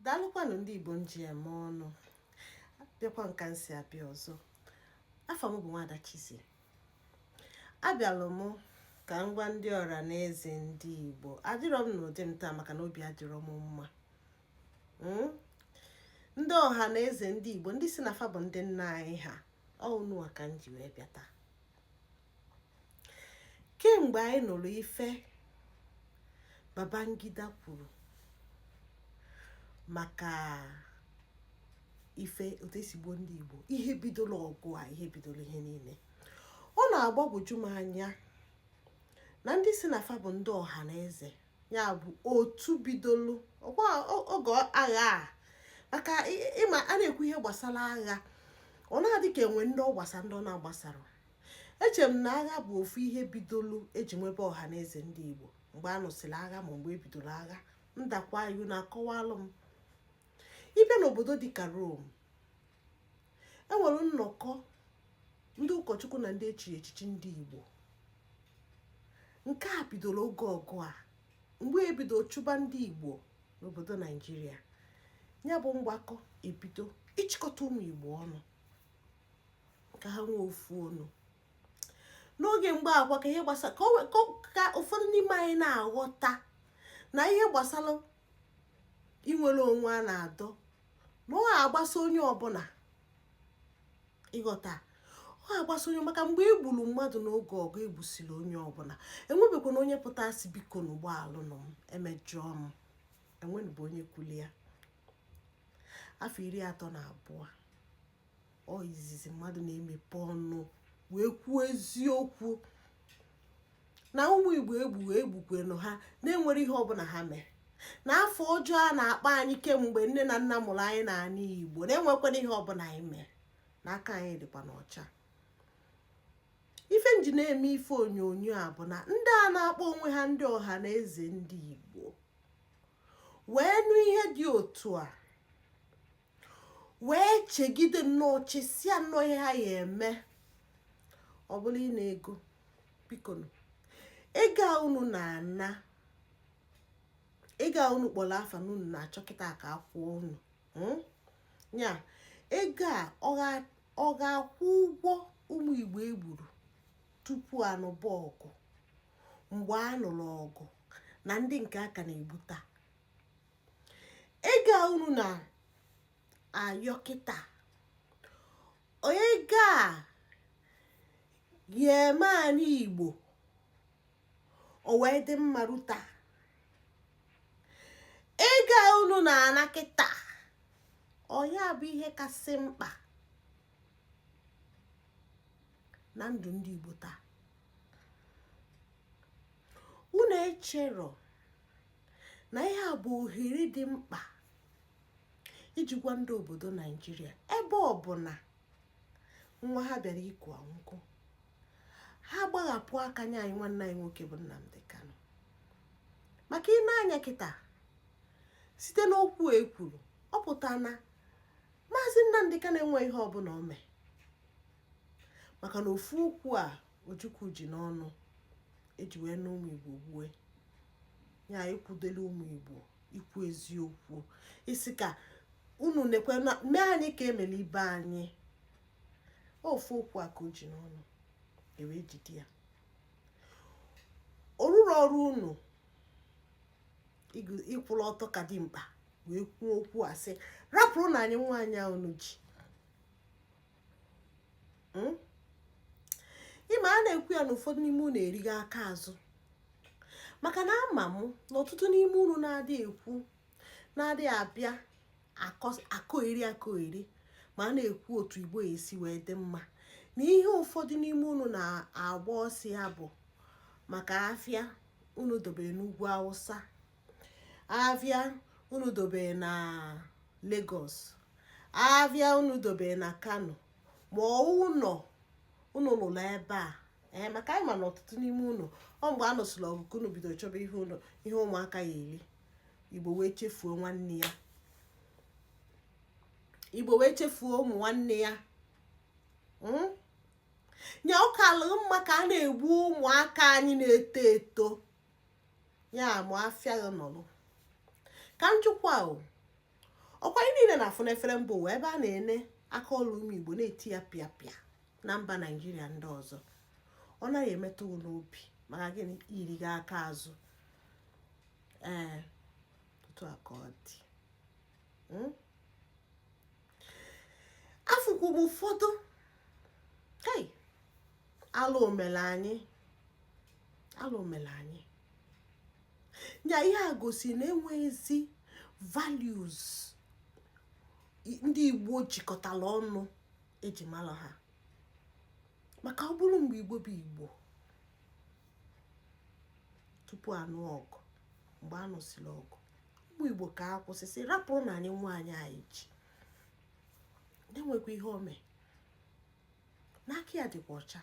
daalụkwanụ ndị igbo m ji eme ọnụ abịakwa m ka m si abịa ọzọ afa m bụ nwada Chizzy abịalụ m ka m gwa ndị ọra na eze ndị igbo adịrọ m n'ụdị m taa maka na obi adịrọ m mma hmm? ndị ọha na eze ndị igbo ndị si na fa bụ ndị nna anyị ha ọ unuwa ka m ji wee bịa taa kemgbe anyị nụrụ ife Babangida kwuru maka ife otu esi gbuo ndị Igbo ihe bidoro ọgụ a ihe bidoro ihe niile ọ na-agbagwoju m anya na ndị si na fa bụ ndị ọha na eze ya bụ otu bidoro oge agha a maka ịma a na-ekwu ihe gbasara agha ọ na-adị ka enwe ndị ọ gbasara ndị ọ na-agbasarọ Eche m na agha bụ ofu ihe bidolu eji nwebe ọha na eze ndị Igbo mgbe a nụsịrị agha ma mgbe ebidoro agha m dakwa iwu na-akọwalụ m ịbịa n'obodo dịka Rome enwere nnọkọ ndị ụkọchukwu na ndị echiri echichi ndị Igbo nke a bidoro oge ọgụ a mgbe ebido chụba ndị Igbo n'obodo Naijiria ya bụ mgbakọ ebido ịchịkọta ụmụ Igbo ọnụ ka ha nwee ofu onu n'oge mgbe agha ka ihe gbasara ka ụfọdụ n'ime anyị na-aghọta na ihe gbasara inwere onwe a na-adọ na ọ ga-agbasa onye ọbụla ịghọta ọ ga-agbasa onye maka mgbe e gburu mmadụ n'oge ọgụ egbusiri onye ọbụla enwebekwana onye pụta sị bikonụ gbaghalụnụ m emejọọ m enwenụbụ onye kwulu ya afọ iri atọ na abụọ ọ izizi mmadụ na-emepe ọnụ wee kwuo eziokwu na ụmụ igbo egbuwe egbukwanụ ha na-enwerọ ihe ọbụla ha mere na afa ọjọọ a na-akpọ anyị kemgbe nne na nna mụrụ anyị n'ala igbo na-enwekwana ihe ọbụla anyị mere na aka anyị dịkwanụ ọcha ife m ji na-eme ife onyonyo a bụ na ndị a na-akpọ onwe ha ndị ọha na eze ndị igbo wee nụ ihe dị otu a wee chegide nnọọ chesịa nnọọ ihe ha ya eme ọ bụrụ ịna ego biko ego a unu na-ana ego a unu kpọrọ afa na unu na-achọ kịta ka akwụọ unu hmm? ya ego a ọ ga-akwụ ụgwọ ụmụ igbo egburu tupu anụba ọgụ mgbe a nụrụ ọgụ na ndị nke a ka na-egbu taa ego a unu na-ayọ kịta ego a ya eme anị Igbo o wee dị mma ruta ego a unu na-ana kịta ọ ya bụ ihe kasị mkpa na ndụ ndị Igbo taa unu echero na ihe a bụ ohere dị mkpa iji gwa ndị obodo naijiria ebe ọ bụ na nwa ha bịara ikwu okwu ha gbaghapụ aka nye anyị nwanne anyị nwoke bụ Nnamdi Kanu maka i nee anya kịta site n'okwu e kwuru ọ pụta na maazị Nnamdi Kanu enweghị ihe ọbụla o mee maka na ofu okwu a Ojukwu ji n'ọnụ e ji wee na ụmụ Igbo gbue ya ikwudele ụmụ Igbo ikwu eziokwu ịsị ka unu nekwe mee anyị ka e mere ibe anyị ofu okwu a ka o ji n'ọnụ e wee jide ya o ruru ọrụ unu ịkwụrụ ọtọ ka dimkpa wee kwuo okwu a sị rapụrụnụ anyị nwa anyị a unu ji hmm? ị ma a na-ekwu ya na ụfọdụ n'ime unu erighị aka azụ maka na ama m na ọtụtụ n'ime unu na-adị ekwu na-adị abịa akọgheri akọgheri ma a na-ekwu otu igbo esi wee dị mma na ihe ụfọdụ n'ime unu na-agba ọsọ ya bụ maka afịa unu dobere n'ugwu awụsa afịa unu dobe na Lagos afịa unu dobe na Kano ma ụlọ unu lụrụ ebe a ee eh, maka anyị ma na ọtụtụ n'ime unu ọ mgbe a nụsịrị ọgụ ka unu bidoro chọba ihe ụlọ ihe ụmụaka ya eri igbo wee chefuo nwanne ya igbo wee chefuo ụmụ nwanne ya hmm? nye ụka alụ mma ka a na-egbu ụmụaka anyị na-eto eto ya ma afịa gị nọlụ ka m jụkwaa ọ kwa anyị niile na-afụ n'efere mba ụwa ebe a na-ene aka ọrụ ụmụ igbo na-eti ya pịa pịa na mba naijiria ndị ọzọ ọ naghị emetụ n'obi maka gịnị i righị aka azụ ee otu a ka ọ dị hmm? afụkwu m ụfọdụ alụ emela anyị alụ emela anyị ya ihe a gosi na enweghịzi values ndị igbo jikọtara ọnụ eji mara ha maka ọ bụrụ mgbe igbo bụ igbo tupu a nụọ ọgụ mgbe a nụsịrị ọgụ ụmụ igbo ka a kwụsịsị rapụrụ na anyị nwa anyị ji na-enwekwa ihe ome n'aka ya dịkwa ọcha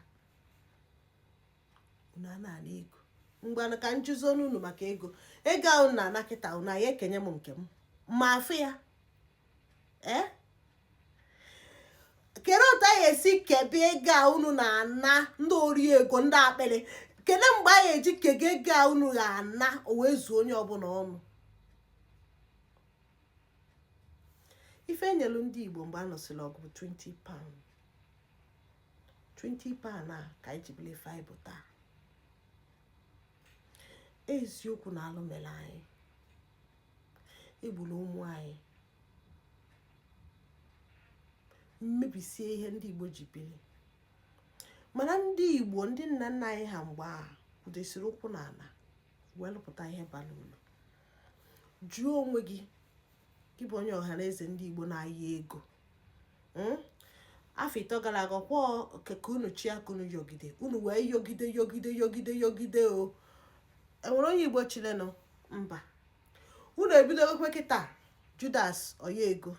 unu a na-ana ego mgbe ka m jụzienụ unu maka ego ego a unu na-ana kịta unu a ya-ekenye m nke m ma afụ ya ee kedụ otu a ya-esi kebe ego a unu na-ana ndị ori ego ndị akpịrị kedụ mgbe a ya-eji kee ego a unu ga-ana o wee zuo onye ọbụla ọnụ ife enyelu ndị igbo mgbe a nụsịrị ọgụ bụ 20 pound 20 pound a ka anyị ji bili ife anyị bụ taa eziokwu na alụ mere anyị egburu ụmụ anyị mebisie ihe ndị igbo ji biri mana ndị igbo ndị nna nna anyị ha mgbe ahụ kwudesiri ụkwụ n'ala wee lụpụta ihe bara uru jụọ onwe gị gị bụ onye ọha na eze ndị igbo na-ayọ ego hmm? afọ ịtọ gara aga ọkwa ka unu chị aka unu yọgide unu wee yọgide yọgide yọgide yọgide o nwere onye igbo chịlịnụ mba unu ebidogokwa kịta judas oya ego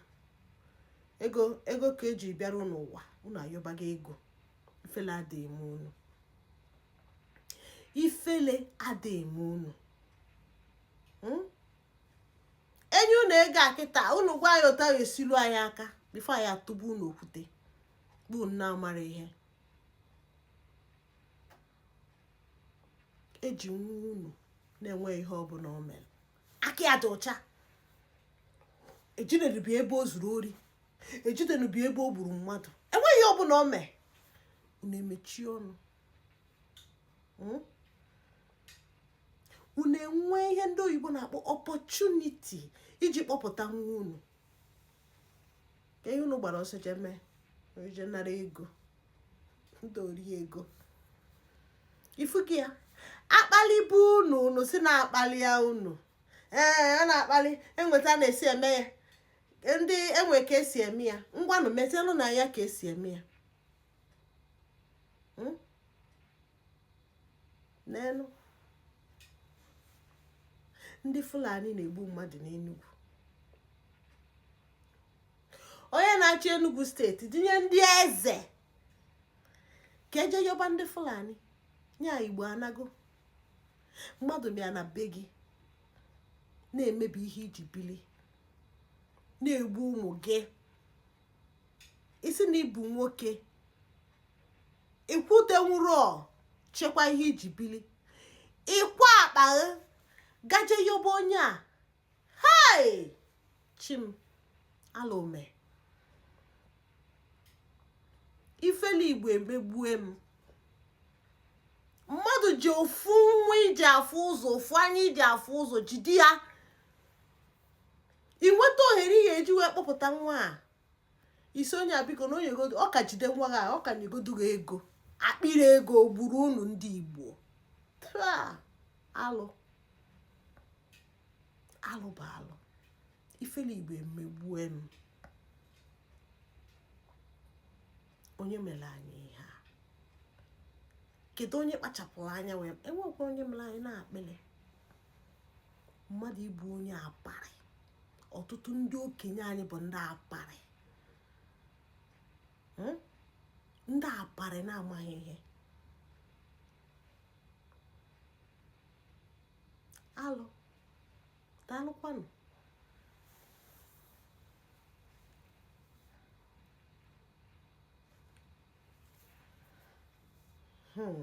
ego ego ka eji bịara unu ụwa unu ayọbaga ego ifele adịghị eme unu ifele ada eme unu hmm? enye unu ego a kịta unu gwa anyị otu esilu anyị aka before anyị atụgbuo unu okwute unu amara ihe eji nwa unu na enweghị ihe ọ bụla o mere aka ya dị ọcha ejidenubi ebe o zuru ori ejidenubi ebe o gburu mmadụ enweghị ihe ọ bụla o mee unu emechie ọnụ hmm? unu enwe ihe ndị oyibo na-akpọ opportunity iji kpọpụta nwa unu ka ihe unu gbara ọsọ jee mee je nara ego ndị ori ego ịfụgo ya a kpalịbe unu unu sị na a kpalịa unu ee a na-akpali enwe etu a na-esi eme ya ndị enwe ka esi eme ya ngwanụ mezienụ na ya ka esi eme ya hmm? n'elu ndị fulani na-egbu mmadụ n'enugwu onye na-achị enugwu steeti dinye ndị eze ka e je yọba ndị fulani nya igbo anago mmadụ bịa na be gị na-emebi ihe i ji bili na-egbu ụmụ gị ị sị na ị bụ nwoke ị kwụdenwuru chekwa ihe i ji bili ị kwa akpa ga-eje yoba onye a hei chi m alụ eme ifele igbo emegbue m mmadụ ji ofu nwa i ji afụ ụzọ ofu anya i ji afụ ụzọ jide ya i nweta ohere ihe e ji wee kpọpụta nwa a ị sị onye a biko na onye godu ọ ka jide nwa a ọ ka nyegodu gị ego akpịrị ego gburu unu ndị igbo alụ alụ bụ alụ ifele igbo emegbue m onye mere anyị ihe a kedu onye kpachapụrụ anya wee enwekwa onye mere anyị n'akpịrị mmadụ ịbụ onye apari ọtụtụ ndị okenye anyị bụ ndị apari hmm? ndị apari na-amaghị ihe alụ daalụkwanụ hmm